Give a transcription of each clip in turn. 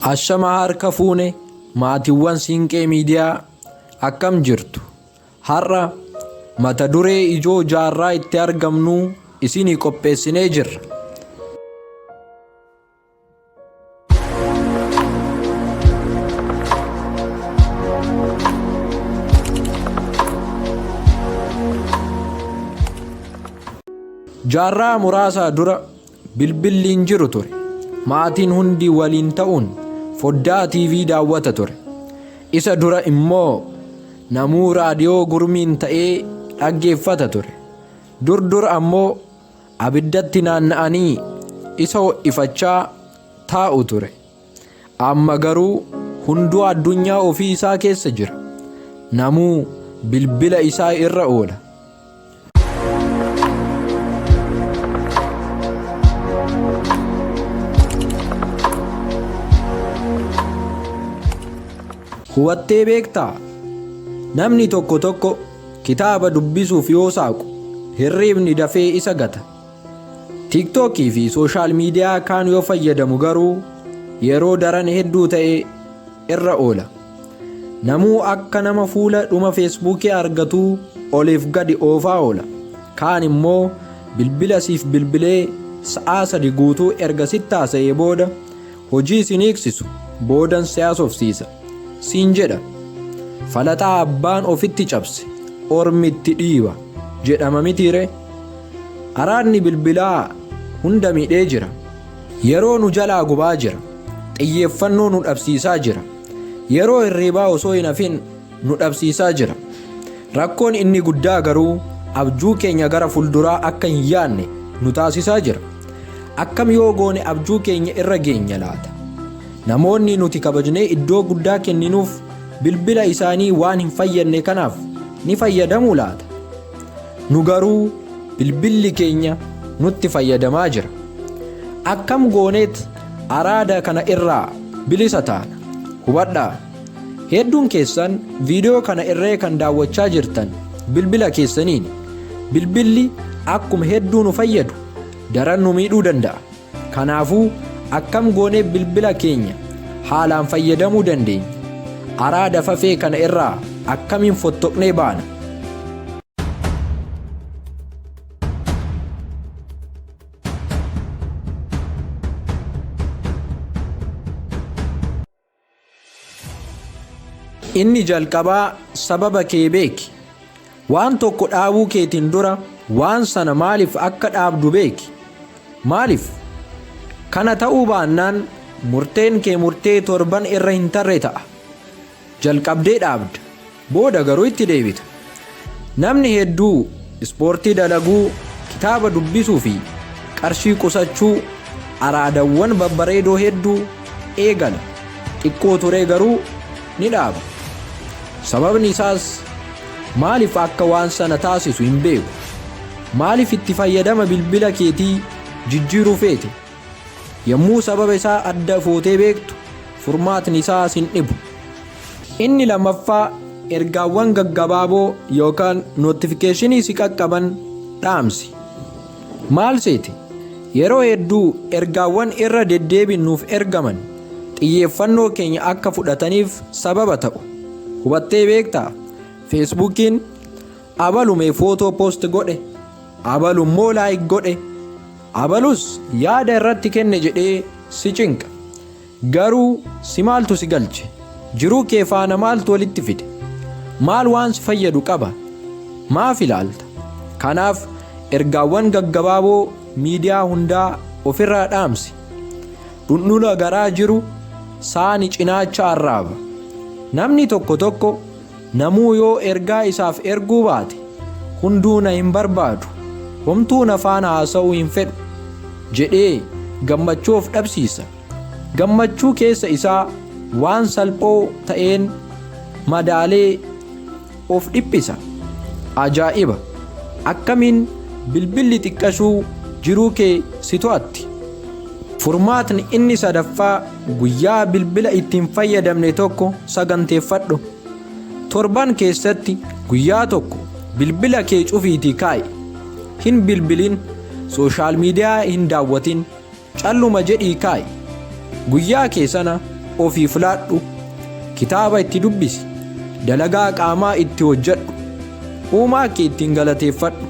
Ashama harka fuune maatiwwan Siinqee Miidiyaa akkam jirtu? Har'a mata duree ijoo jaarraa itti argamnuu isinii qopheessinee jirra. Jaarraa muraasaa dura Bilbilli hin jiru ture. Maatiin hundi waliin ta'uun foddaa TV daawwata ture. Isa dura immoo namuu raadiyoo gurmiin ta'ee dhaggeeffata ture. Dur dur ammoo abiddatti naanna'anii isa ho'ifachaa taa'u ture. Amma garuu hunduu addunyaa ofii isaa keessa jira. Namuu bilbila isaa irra oola. Hubattee beektaa? Namni tokko tokko kitaaba dubbisuuf yoo saaqu hirriibni dafee isa gata. TikTok fi sooshaal miidiyaa kaan yoo fayyadamu garuu yeroo daran hedduu ta'e irra oola. Namuu akka nama fuula dhuma feesbuukii argatuu oliif gadi oofaa oola. Kaan immoo bilbila siif bilbilee sa'aa sadi guutuu erga sitti haasa'ee booda Hojii isin hiiksisu boodan si haasofsiisa siin jedha. Falaxaa abbaan ofitti cabse ormi itti dhiiba jedhama mitiiree? Araadni bilbilaa hunda miidhee jira. Yeroo nu jalaa gubaa jira. Xiyyeeffannoo nu dhabsiisaa jira. Yeroo hirriibaa osoo hin hafin nu dhabsiisaa jira. Rakkoon inni guddaa garuu abjuu keenya gara fulduraa akka hin yaadne nu taasisaa jira. Akkam yoo goone abjuu keenya irra geenya laata? Namoonni nuti kabajnee iddoo guddaa kenninuuf bilbila isaanii waan hin fayyadne kanaaf ni fayyadamu laata? Nu garuu bilbilli keenya nutti fayyadamaa jira. Akkam gooneet araada kana irraa bilisa taana? Hubadhaa! Hedduun keessan viidiyoo kana irree kan daawwachaa jirtan bilbila keessaniin bilbilli akkuma hedduu nu fayyadu daran nu miidhuu danda'a. Kanaafuu akkam goonee bilbila keenya haalaan fayyadamuu dandeenya? Araada fafee kana irraa akkamiin fottoqnee baana? Inni jalqabaa sababa kee beeki. Waan tokko dhaabuu keetiin dura waan sana maaliif akka dhaabdu beeki. Maaliif? Kana ta'uu baannaan murteen kee murtee torban irra hin tarre ta'a. Jalqabdee dhaabda. Booda garuu itti deebita. Namni hedduu ispoortii dalaguu, kitaaba dubbisuu fi qarshii qusachuu, araadawwan babbareedoo hedduu, eegala. Xiqqoo turee garuu ni dhaaba. Sababni isaas maaliif akka waan sana taasisu hin beeku. Maaliif itti fayyadama bilbila keetii jijjiiruu feete? Yommuu sababa isaa adda footee beektu, furmaatni isaa sin dhibu. Inni lammaffaa ergaawwan gaggabaaboo yookaan notifikeshinii si qaqqaban dhaamsi. Maal seete? Yeroo hedduu ergaawwan irra deddeebiin nuuf ergaman xiyyeeffannoo keenya akka fudhataniif sababa ta'u. Hubattee beektaa? Feesbuukiin abalume footoo poost godhe, abalummoo laayik godhe. Abalus yaada irratti kenne jedhee si cinqa. Garuu si maaltu si galche? Jiruu kee faana maaltu walitti fide? Maal waan si fayyadu qaba? Maaf ilaalta? Kanaaf ergaawwan gaggabaaboo miidiyaa hundaa ofirraa dhaamsi. Dhundhula garaa jiru saani cinaacha arraaba. Namni tokko tokko Namuu yoo ergaa isaaf erguu baate, hunduu na hin barbaadu, homtuu na faana haasa'uu hin fedhu jedhee gammachuu of dhabsiisa. Gammachuu keessa isaa waan salphoo ta'een madaalee of dhiphisa. Ajaa'iba! Akkamiin bilbilli xiqqashuu jiruu kee si to'atti? Furmaatni inni sadaffaa. Guyyaa bilbila itti hin fayyadamne tokko saganteeffadhu. Torban keessatti guyyaa tokko bilbila kee cufiitii kaa'i. Hin bilbilin, sooshaal miidiyaa hin daawwatin, calluma jedhii kaa'i. Guyyaa kee sana ofii filaadhu. Kitaaba itti dubbisi. Dalagaa qaamaa itti hojjedhu. Uumaa kee ittiin galateeffadhu.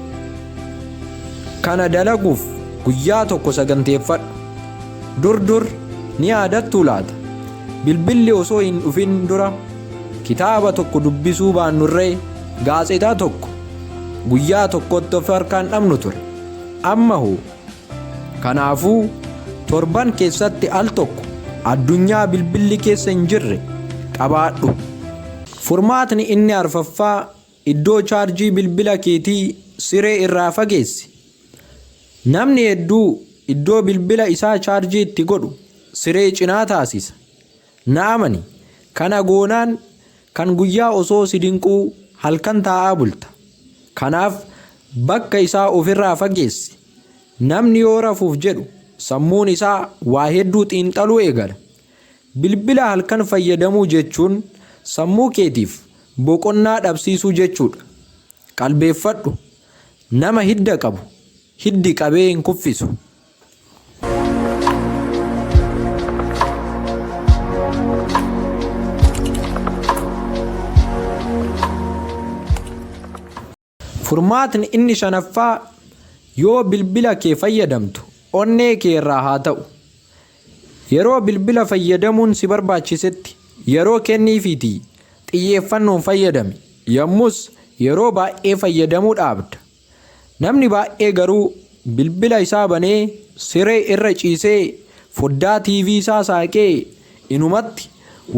Kana dalaguuf guyyaa tokko saganteeffadhu. Dur dur, ni yaadattuu laata? Bilbilli osoo hin dhufin dura kitaaba tokko dubbisuu baannurree gaazexaa tokko guyyaa tokkotti of harkaa hin dhabnu ture. Amma hoo? Kanaafuu, torban keessatti al tokko addunyaa bilbilli keessa hin jirre qabaadhu. Furmaatni inni arfaffaa Iddoo chaarjii bilbila keetii siree irraa fageessi. Namni hedduu iddoo bilbila isaa chaarjii itti godhu siree cinaa taasisa. Na amani, kana goonaan kan guyyaa osoo si dinquu halkan taa'aa bulta. Kanaaf bakka isaa ofirraa fageessi. Namni yoo rafuuf jedhu sammuun isaa waa hedduu xiinxaluu eegala. Bilbila halkan fayyadamuu jechuun sammuu keetiif boqonnaa dhabsiisuu jechuudha. Qalbeeffadhu, Nama hidda qabu hiddi qabee hin kuffisu. Furmaatni inni shanaffaa yoo bilbila kee fayyadamtu onnee kee irraa haa ta'u. Yeroo bilbila fayyadamuun si barbaachisetti yeroo kenniifiitii xiyyeeffannoon fayyadami. Yommus yeroo baay'ee fayyadamuu dhaabda. Namni baay'ee garuu bilbila isaa banee siree irra ciisee foddaa TV isaa saaqee inumatti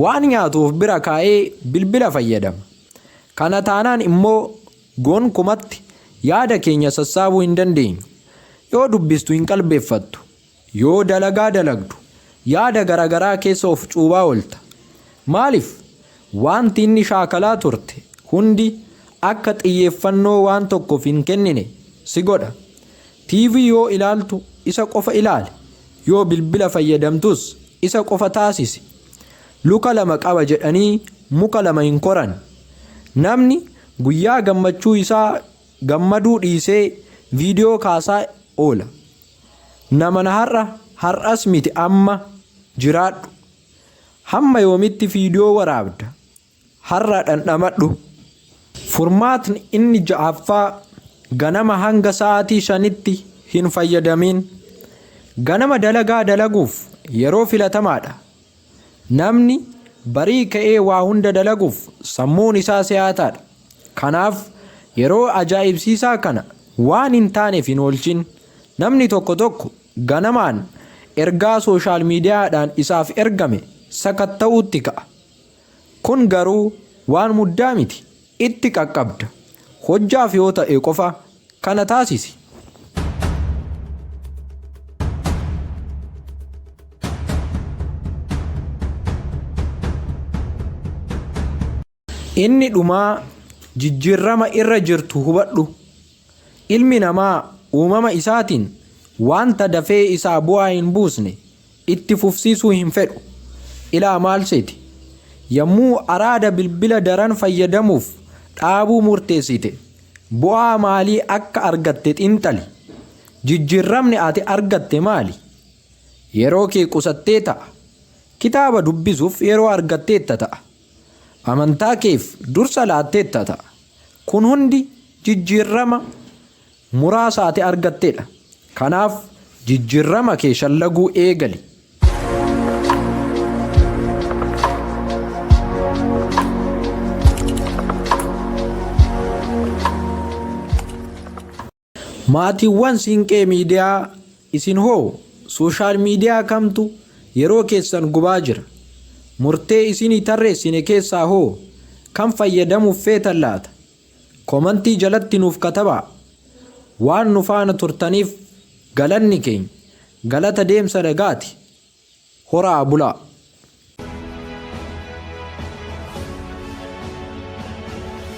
waan nyaatu of bira kaa'ee bilbila fayyadama. Kana taanaan immoo gonkumatti yaada keenya sassaabuu hin dandeenyu. Yoo dubbistu hin qalbeeffattu. Yoo dalagaa dalagdu yaada garagaraa keessa of cuubaa oolta. Maaliif? Waanti inni shaakalaa turte hundi akka xiyyeeffannoo waan tokkoof hin kennine si godha. TV yoo ilaaltu isa qofa ilaali. Yoo bilbila fayyadamtus isa qofa taasisi. Luka lama qaba jedhanii muka lama hin koran. Namni guyyaa gammachuu isaa gammaduu dhiisee viidiyoo kaasaa oola. Nama na har'a har'as miti amma jiraadhu. Hamma yoomitti viidiyoo waraabda? Har'a dhandhamadhu. Furmaatni inni ja'affaa ganama hanga sa'aatii shanitti hin fayyadamiin. Ganama dalagaa dalaguuf yeroo filatamaadha. Namni barii ka'ee waa hunda dalaguuf sammuun isaa si'aataadha. Kanaaf, yeroo ajaa'ibsiisaa kana waan hin taaneef hin oolchin. Namni tokko tokko ganamaan ergaa sooshaal miidiyaadhaan isaaf ergame sakatta'uutti ka'a. Kun garuu waan muddaa miti. Itti qaqqabda. Hojjaaf yoo ta'e qofa kana taasisi. Inni dhumaa jijjiirrama irra jirtu hubadhu. Ilmi namaa uumama isaatiin wanta dafee isaa bu'aa hin buusne Itti fufsiisuu hin fedhu. Ilaa maal seete? Yommuu araada bilbila daran fayyadamuuf dhaabuu murteessite bu'aa maalii akka argatte xiinxali. Jijjiirramni ati argatte maali? Yeroo kee qusattee ta'a. Kitaaba dubbisuuf yeroo argatteetta ta'a. Amantaa keef dursa laatteetta ta'a. Kun hundi jijjiirrama muraasa ati argattedha. Kanaaf jijjirrama kee shallaguu eegali. Maatiiwwan Siinqee Miidiyaa isin hoo sooshaal miidiyaa kamtu yeroo keessan gubaa jira? Murtee isinii tarreessine keessaa hoo kam fayyadamuuf feetan laata? Komantii jalatti nuuf katabaa. Waan nu faana turtaniif galanni keenya galata deemsa nagaati. Horaa bulaa!